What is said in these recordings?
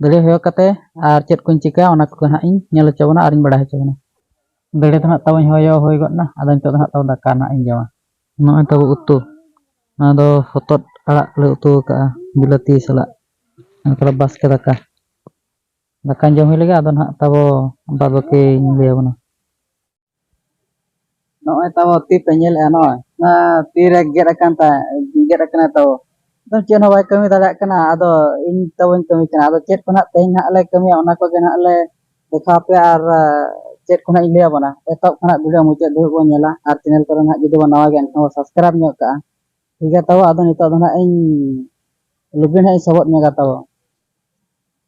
ᱫᱟᱹᱲᱮ ᱦᱚᱭᱚ ᱠᱟᱛᱮ ᱟᱨ ᱪᱮᱫ ᱠᱚᱧ ᱪᱤᱠᱟᱹᱭᱟ ᱚᱱᱟ ᱠᱚᱜᱮ ᱱᱟᱦᱟᱜ ᱤᱧ ᱧᱮᱞ ᱦᱚᱪᱚ ᱵᱚᱱᱟ ᱟᱨᱤᱧ ᱵᱟᱲᱟᱭ ᱦᱚᱪᱚ ᱵᱚᱱᱟ ᱫᱟᱹᱲᱮ ᱫᱚ ᱱᱟᱦᱟᱜ ᱛᱟᱵᱚᱧ ᱦᱚᱭᱚ ᱦᱩᱭ ᱜᱚᱫ ᱮᱱᱟ ᱟᱫᱚ ᱱᱤᱛᱚᱜ ᱫᱚ ᱱᱟᱦᱟᱜ ᱛᱟᱵᱚ ᱫᱟᱠᱟ ᱱᱟᱦᱟᱜ ᱤᱧ ᱡᱚᱢᱟ ᱱᱚᱜᱼᱚᱭ ᱛᱟᱵᱚ ᱩᱛᱩ ᱱᱚᱣᱟ ᱫᱚ ᱦᱚᱛᱚᱫ ᱟᱲᱟᱜ ᱞᱮ ᱩᱛᱩ ᱟᱠᱟᱫᱼᱟ ᱵᱤᱞᱟᱹᱛᱤ ᱥᱟᱞᱟᱜ ᱚᱱᱠᱟ ᱵᱟᱥᱠᱮ ᱫᱟᱠᱟ ᱫᱟᱠᱟᱧ ᱡᱚᱢ ᱦᱩᱭ ᱞᱮᱜᱮ ᱟᱫᱚ ᱱᱟᱦᱟᱜ ᱛᱟᱵᱚ ᱵᱟᱫᱽ ᱵᱟᱹᱠᱤᱧ ᱞᱟᱹᱭ ᱟᱵᱚᱱᱟ ᱱᱚᱜᱼᱚᱭ ᱛᱟᱵᱚ ᱛᱤ ᱯᱮ ᱧᱮᱞᱮᱜᱼᱟ ᱱᱚᱜᱼᱚᱭ ᱛᱤᱨᱮ ᱜᱮᱫ ᱟᱠᱟᱱ ᱛᱟᱭ ᱜᱮᱫ ᱟᱠᱟᱱᱟ ᱛᱟᱵᱚ ᱟᱫᱚ ᱪᱮᱫ ᱦᱚᱸ ᱵᱟᱭ ᱠᱟᱹᱢᱤ ᱫᱟᱲᱮᱭᱟᱜ ᱠᱟᱱᱟ ᱟᱫᱚ ᱤᱧ ᱛᱟᱵᱚᱧ ᱠᱟᱹᱢᱤ ᱠᱟᱱᱟ ᱟᱫᱚ ᱪᱮᱫ ᱠᱚ ᱱᱟᱦᱟᱜ ᱛᱮᱦᱮᱧ ᱱᱟᱦᱟᱜ ᱞᱮ ᱠᱟᱹᱢᱤᱭᱟ ᱚᱱᱟ ᱠᱚᱜᱮ ᱱᱟᱦᱟᱜ ᱞᱮ ᱫᱮᱠᱷᱟᱣ ᱯᱮᱭᱟ ᱟᱨ ᱪᱮᱫ ᱠᱚ ᱱᱟᱦᱟᱜ ᱤᱧ ᱞᱟᱹᱭ ᱟᱵᱚᱱᱟ ᱮᱛᱚᱦᱚᱵ ᱠᱷᱚᱱᱟᱜ ᱵᱷᱤᱰᱤᱭᱳ ᱢᱩᱪᱟᱹᱫ ᱫᱷᱟᱹᱵᱤᱡ ᱵᱚᱱ ᱧᱮᱞᱟ ᱟᱨ ᱪᱮᱱᱮᱞ ᱠᱚᱨᱮ ᱱᱟᱦᱟᱜ ᱡᱩᱫᱤ ᱵᱚᱱ ᱱᱟᱣᱟ ᱜᱮᱭᱟ ᱮᱱᱠᱷᱟᱱ ᱵᱚᱱ ᱥᱟᱵᱥᱠᱨᱟᱭᱤᱵᱽ ᱧᱚᱜ ᱠᱟᱜᱼᱟ ᱴᱷᱤᱠ ᱜᱮᱭᱟ ᱛᱟᱵᱚ ᱟᱫᱚ ᱱᱤᱛᱚᱜ ᱫᱚ ᱱᱟᱦᱟᱜ ᱤᱧ ᱞᱩᱜᱽᱲᱤ ᱱᱟᱦᱟᱜ ᱤᱧ ᱥᱚᱵᱚᱫ ᱧᱚᱜᱟ ᱛᱟᱵᱚ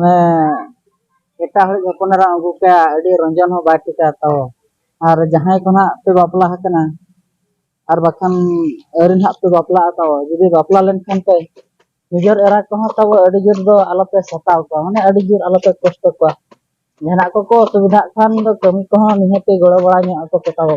ᱢᱟᱱᱮ ᱮᱴᱟᱜ ᱦᱚᱲᱤᱡ ᱦᱚᱯᱚᱱ ᱮᱨᱟᱢ ᱟᱹᱜᱩ ᱠᱟᱭᱟ ᱟᱹᱰᱤ ᱨᱚᱸᱡᱚᱱ ᱦᱚᱸ ᱵᱟᱭ ᱴᱷᱤᱠᱟ ᱛᱚ ᱟᱨ ᱡᱟᱦᱟᱸᱭ ᱠᱚ ᱱᱟᱦᱟᱜ ᱯᱮ ᱵᱟᱯᱞᱟ ᱟᱠᱟᱱᱟ ᱟᱨ ᱵᱟᱠᱷᱟᱱ ᱟᱹᱣᱨᱤ ᱱᱟᱦᱟᱜ ᱯᱮ ᱵᱟᱯᱞᱟᱜᱼᱟ ᱛᱚ ᱡᱩᱫᱤ ᱵᱟᱯᱞᱟ ᱞᱮᱱᱠᱷᱟᱱ ᱯᱮ ᱱᱤᱡᱮᱨ ᱮᱨᱟ ᱠᱚᱦᱚᱸ ᱛᱟᱵᱚ ᱟᱹᱰᱤ ᱡᱳᱨ ᱫᱚ ᱟᱞᱚᱯᱮ ᱥᱟᱛᱟᱣ ᱠᱚᱣᱟ ᱢᱟᱱᱮ ᱟᱹᱰᱤ ᱡᱳᱨ ᱟᱞᱚᱯᱮ ᱠᱚᱥᱴᱚ ᱠᱚᱣᱟ ᱡᱟᱦᱟᱱᱟᱜ ᱠᱚᱠᱚ ᱚᱥᱩᱵᱤᱫᱷᱟᱜ ᱠᱷᱟᱱ ᱫᱚ ᱠᱟᱹᱢᱤ ᱠᱚᱦᱚᱸ ᱱᱤᱦᱟᱹᱛᱤ ᱜᱚᱲᱚ ᱵᱟᱲᱟ ᱧᱚᱜ ᱟᱠᱚ ᱯᱮ ᱛᱟᱵᱚ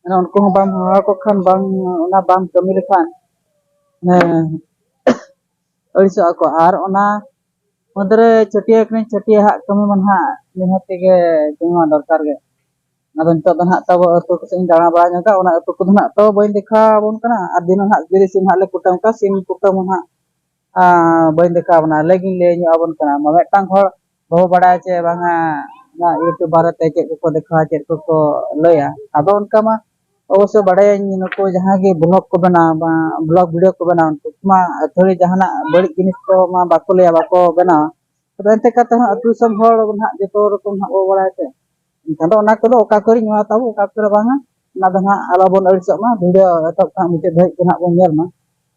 ᱢᱟᱱᱮ ᱩᱱᱠᱩ ᱦᱚᱸ ᱵᱟᱢ ᱦᱚᱦᱚ ᱟᱠᱚ ᱠᱷᱟᱱ ᱵᱟᱝ ᱚᱱᱟ ᱵᱟᱢ ᱠᱟᱹᱢᱤ ᱞᱮᱠᱷᱟᱱ ᱦᱮᱸ ᱟᱹᱲᱤᱥᱚᱜ ᱟᱠᱚ ᱟᱨ ᱚᱱᱟ ᱢᱩᱫᱽᱨᱮ ᱪᱷᱟᱹᱴᱭᱟᱹ ᱠᱟᱹᱱᱟᱹᱧ ᱪᱷᱟᱹᱴᱭᱟᱹ ᱦᱟᱸᱜ ᱠᱟᱹᱢᱤ ᱢᱟ ᱱᱟᱦᱟᱜ ᱱᱤᱦᱟᱹᱛ ᱛᱮᱜᱮ ᱠᱟᱹᱢᱤ ᱢᱟ ᱫᱚᱨᱠᱟᱨ ᱜᱮ ᱟᱫᱚ ᱱᱤᱛᱚᱜ ᱫᱚ ᱱᱟᱦᱟᱜ ᱛᱟᱵᱚ ᱟᱹᱛᱩ ᱠᱚᱥᱮᱫ ᱤᱧ ᱫᱟᱬᱟ ᱵᱟᱲᱟ ᱧᱚᱜᱟ ᱚᱱᱟ ᱟᱹᱛᱩ ᱠᱚᱫᱚ ᱱᱟᱦᱟᱜ ᱛᱟᱵᱚ ᱵᱟᱹᱧ ᱫᱮᱠᱷᱟᱣ ᱟᱵᱚᱱ ᱠᱟᱱᱟ ᱟᱨ ᱫᱤᱱᱟᱹᱢ ᱦᱟᱸᱜ ᱡᱩᱫᱤ ᱥᱤᱢ ᱦᱟᱸᱜ ᱞᱮ ᱠᱩᱴᱟᱹᱢ ᱠᱚᱣᱟ ᱥᱤᱢ ᱠᱩᱴᱟᱹᱢ ᱦᱚᱸ ᱱᱟᱦᱟᱜ ᱵᱟᱹᱧ ᱫᱮᱠᱷᱟᱣ ᱵᱚᱱᱟ ᱟᱞᱮ ᱜᱤᱧ ᱞᱟᱹᱭ ᱧᱚᱜ ᱟᱵᱚᱱ ᱠᱟᱱᱟ ᱢᱤᱫᱴᱟᱝ ᱦᱚᱲ ᱵᱟᱵᱚ ᱵᱟᱲᱟᱭᱟ ᱡᱮ ᱵᱟᱝᱟ ᱱᱚᱣᱟ ᱤᱭᱩᱴᱩᱵᱽ ᱵᱟᱨᱮᱛᱮ ᱪᱮᱫ ᱠᱚᱠᱚ ᱫᱮᱠᱷᱟᱣᱟ ᱪᱮᱫ ᱠᱚᱠᱚ ᱞᱟᱹᱭᱟ ᱟᱫᱚ ᱚᱱᱠᱟ ᱢᱟ ᱚᱵᱚᱥᱥᱚ ᱵᱟᱲᱟᱭᱟᱹᱧ ᱱᱩᱠᱩ ᱡᱟᱦᱟᱸᱭ ᱜᱮ ᱵᱞᱚᱠ ᱠᱚ ᱵᱮᱱᱟᱣᱟ ᱵᱟᱝ ᱵᱞᱚᱠ ᱵᱷᱤᱰᱭᱳ ᱠᱚ ᱵᱮᱱᱟᱣᱟ ᱩᱱᱠᱩ ᱢᱟ ᱟᱹᱛᱷᱟᱹᱲᱤ ᱡᱟᱦᱟᱱᱟᱜ ᱵᱟᱹᱲᱤᱡ ᱡᱤᱱᱤᱥ ᱠᱚ ᱢᱟ ᱵᱟᱠᱚ ᱞᱟᱹᱭᱟ ᱵᱟᱠᱚ ᱵᱮᱱᱟᱣᱟ ᱛᱚᱵᱮ ᱮᱱᱛᱮ ᱠᱟᱛᱮ ᱦᱚᱸ ᱟᱹᱛᱩ ᱫᱤᱥᱚᱢ ᱦᱚᱲ ᱱᱟᱦᱟᱜ ᱡᱚᱛᱚ ᱨᱚᱠᱚᱢ ᱱᱟᱦᱟᱜ ᱵᱚ ᱵᱟᱲᱟᱭ ᱛᱮ ᱮᱱᱠᱷᱟᱱ ᱫᱚ ᱚᱱᱟ ᱠᱚᱫᱚ ᱚᱠᱟ ᱠᱚᱨᱮᱧ ᱮᱢᱟ ᱛᱟᱵᱚ ᱚᱠᱟ ᱠᱚᱨᱮ ᱵᱟᱝᱟ ᱚᱱᱟ ᱫᱚ ᱱᱟᱦᱟᱜ ᱟᱞᱚ ᱵᱚᱱ ᱟᱹᱲᱤᱥᱚᱜ ᱢᱟ ᱵᱷᱤᱰᱭᱳ ᱮᱛᱚᱦᱚᱵ ᱠᱷᱚᱱᱟᱜ ᱢᱩᱪᱟᱹᱫ ᱫᱷᱟᱹᱵᱤᱡ ᱜᱮ ᱱᱟᱦᱟᱜ ᱵᱚᱱ ᱧᱮᱞ ᱢᱟ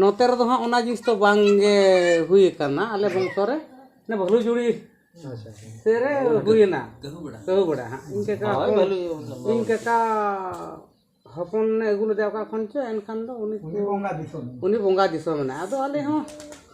ᱱᱚᱛᱮ ᱨᱮᱫᱚ ᱦᱟᱸᱜ ᱚᱱᱟ ᱡᱤᱱᱤᱥ ᱫᱚ ᱵᱟᱝ ᱜᱮ ᱦᱩᱭ ᱟᱠᱟᱱᱟ ᱟᱞᱮ ᱵᱚᱝᱥᱚ ᱨᱮ ᱚᱱᱮ ᱵᱷᱟᱹᱞᱩ ᱡᱩᱲᱤ ᱥᱮᱨᱮ ᱦᱩᱭᱮᱱᱟ ᱠᱟᱹᱦᱩ ᱵᱮᱲᱟ ᱦᱟᱸᱜ ᱤᱧ ᱠᱟᱠᱟ ᱤᱧ ᱠᱟᱠᱟ ᱦᱚᱯᱚᱱ ᱟᱹᱜᱩ ᱞᱮᱫᱮᱭᱟ ᱚᱠᱟ ᱠᱷᱚᱱ ᱪᱚ ᱮᱱᱠᱷᱟᱱ ᱫᱚ ᱩᱱᱤ ᱩᱱᱤ ᱵᱚᱸᱜᱟ ᱫᱤᱥᱚᱢ ᱮᱱᱟᱭ ᱟᱫᱚ ᱟᱞᱮ ᱦᱚᱸ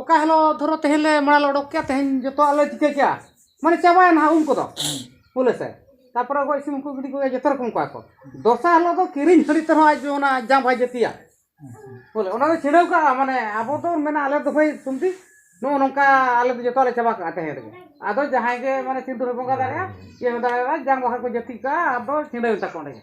ᱚᱠᱟ ᱦᱤᱞᱳᱜ ᱫᱷᱚᱨᱚ ᱛᱮᱦᱮᱧ ᱞᱮ ᱢᱟᱲᱟᱝ ᱞᱮ ᱚᱰᱚᱠ ᱠᱮᱜᱼᱟ ᱛᱮᱦᱮᱧ ᱡᱚᱛᱚᱣᱟᱜ ᱞᱮ ᱪᱤᱠᱟᱹ ᱠᱮᱜᱼᱟ ᱢᱟᱱᱮ ᱪᱟᱵᱟᱭᱮᱱᱟ ᱦᱟᱸᱜ ᱩᱢ ᱠᱚᱫᱚ ᱵᱚᱞᱮ ᱥᱮ ᱛᱟᱨᱯᱚᱨᱮ ᱜᱚᱡ ᱥᱤᱢ ᱠᱚ ᱜᱤᱰᱤ ᱠᱚᱜᱮ ᱡᱚᱛᱚ ᱨᱚᱠᱚᱢ ᱠᱚᱣᱟ ᱠᱚ ᱫᱚᱥᱟᱨ ᱦᱤᱞᱳᱜ ᱫᱚ ᱠᱤᱨᱤᱧ ᱦᱟᱺᱰᱤ ᱛᱮᱦᱚᱸ ᱟᱡ ᱚᱱᱟ ᱡᱟᱢ ᱵᱟᱭ ᱡᱟᱹᱛᱤᱭᱟ ᱵᱚᱞᱮ ᱚᱱᱟ ᱫᱚ ᱪᱷᱤᱰᱟᱹᱣ ᱠᱟᱜᱼᱟ ᱢᱟᱱᱮ ᱟᱵᱚ ᱫᱚ ᱢᱮᱱᱟ ᱟᱞᱮ ᱫᱚ ᱵᱷᱟᱹᱭ ᱥᱩᱢᱛᱤ ᱱᱚᱜᱼᱚ ᱱᱚᱝᱠᱟ ᱟᱞᱮ ᱫᱚ ᱡᱚᱛᱚᱣᱟᱜ ᱞᱮ ᱪᱟᱵᱟ ᱠᱟᱜᱼᱟ ᱛᱮᱦᱮᱧ ᱨᱮᱜᱮ ᱟᱫᱚ ᱡᱟᱦᱟᱸᱭ ᱜᱮ ᱢᱟᱱᱮ ᱥᱤᱢ ᱫᱚᱞᱮ ᱵᱚᱸᱜᱟ ᱫᱟᱲᱮᱭᱟᱜᱼᱟ ᱤᱭᱟᱹ ᱦᱚᱸ ᱫᱟᱲᱮᱭᱟᱜᱼᱟ ᱡᱟᱝ ᱵᱟᱦᱟ ᱠᱚ ᱡᱟᱹᱛᱤ ᱠᱟᱜᱼᱟ ᱟᱫᱚ ᱪᱷᱤᱰᱟᱹᱣᱮᱱ ᱛᱟᱠᱚ ᱚᱸᱰᱮ ᱜᱮ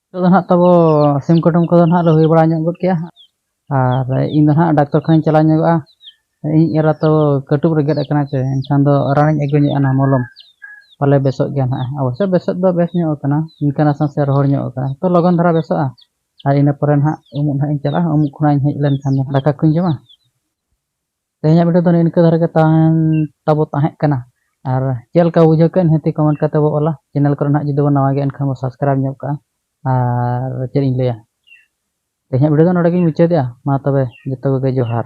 ᱱᱤᱛᱚᱜ ᱫᱚ ᱱᱟᱦᱟᱜ ᱛᱟᱵᱚ ᱥᱤᱢ ᱠᱩᱴᱩᱢ ᱠᱚᱫᱚ ᱱᱟᱦᱟᱜ ᱞᱮ ᱦᱩᱭ ᱵᱟᱲᱟ ᱧᱚᱜ ᱜᱚᱫ ᱠᱮᱜᱼᱟ ᱟᱨ ᱤᱧ ᱫᱚ ᱱᱟᱦᱟᱜ ᱰᱟᱠᱛᱚᱨ ᱠᱷᱟᱱᱟᱧ ᱪᱟᱞᱟᱣ ᱧᱚᱜᱚᱜᱼᱟ ᱤᱧ ᱮᱨᱟ ᱛᱚ ᱠᱟᱹᱴᱩᱵ ᱨᱮ ᱜᱮᱫ ᱟᱠᱟᱱᱟ ᱥᱮ ᱮᱱᱠᱷᱟᱱ ᱫᱚ ᱨᱟᱱᱤᱧ ᱟᱹᱜᱩ ᱧᱚᱜᱼᱟ ᱱᱟᱦᱟᱜ ᱢᱚᱞᱚᱢ ᱯᱟᱞᱮ ᱵᱮᱥᱚᱜ ᱜᱮᱭᱟ ᱱᱟᱦᱟᱜ ᱚᱵᱚᱥᱥᱚ ᱵᱮᱥᱚᱜ ᱫᱚ ᱵᱮᱥ ᱧᱚᱜ ᱟᱠᱟᱱᱟ ᱤᱱᱠᱟᱹ ᱱᱟᱥᱮ ᱱᱟᱥᱮ ᱨᱚᱦᱚᱲ ᱧᱚᱜ ᱟᱠᱟᱱᱟ ᱛᱚ ᱞᱚᱜᱚᱱ ᱫᱷᱟᱨᱟ ᱵᱮᱥᱚᱜᱼᱟ ᱟᱨ ᱤᱱᱟᱹ ᱯᱚᱨᱮ ᱱᱟᱦᱟᱜ ᱩᱢᱩᱜ ᱱᱟᱦᱟᱜ ᱤᱧ ᱪᱟᱞᱟᱜᱼᱟ ᱩᱢᱩᱜ ᱠᱷᱚᱱᱟᱜ ᱤᱧ ᱦᱮᱡ ᱞᱮᱱᱠᱷᱟᱱ ᱫᱚ ᱫᱟᱠᱟ ᱠᱚᱧ ᱡᱚᱢᱟ ᱛᱮᱦᱮᱧᱟᱜ ᱵᱷᱤᱰᱤᱭᱳ ᱫᱚ ᱱᱤᱝᱠᱟᱹ ᱫᱷᱟᱨᱟ ᱜᱮ ᱛᱟᱦᱮᱱ ᱛᱟᱵᱚ ᱛᱟᱦᱮᱸ ᱠᱟᱱᱟ ᱟᱨ ᱪᱮᱫ ᱞᱮᱠᱟ ᱵᱩᱡᱷᱟᱹᱣ ᱠᱮᱫ ᱱᱤᱦᱟᱹᱛ ᱠᱚᱢᱮᱱᱴ ᱠᱟᱛᱮ ᱵᱚ ᱚᱞᱟ ᱪᱮᱱᱮᱞ ᱠᱚᱨᱮ ᱱᱟᱦᱟᱜ ᱡᱩᱫᱤ ᱵᱚ ᱱᱟᱣᱟ ᱜᱮᱭᱟ ᱮᱱᱠᱷᱟᱱ ᱵᱚ ᱥᱟᱵᱥᱠᱨᱟᱭᱤᱵ ᱧᱚᱜ ᱠᱟᱜᱼᱟ ᱟᱨ ᱪᱮᱫ ᱤᱧ ᱞᱟᱹᱭᱟ ᱛᱮᱦᱮᱧᱟᱜ ᱵᱷᱤᱰᱤᱭᱳ ᱫᱚ ᱱᱚᱰᱮ ᱜᱤᱧ ᱢᱩᱪᱟᱹᱫᱮᱜᱼᱟ ᱢᱟ ᱛᱚᱵᱮ ᱡᱚᱛᱚ ᱠᱚᱜᱮ ᱡᱚᱦᱟᱨ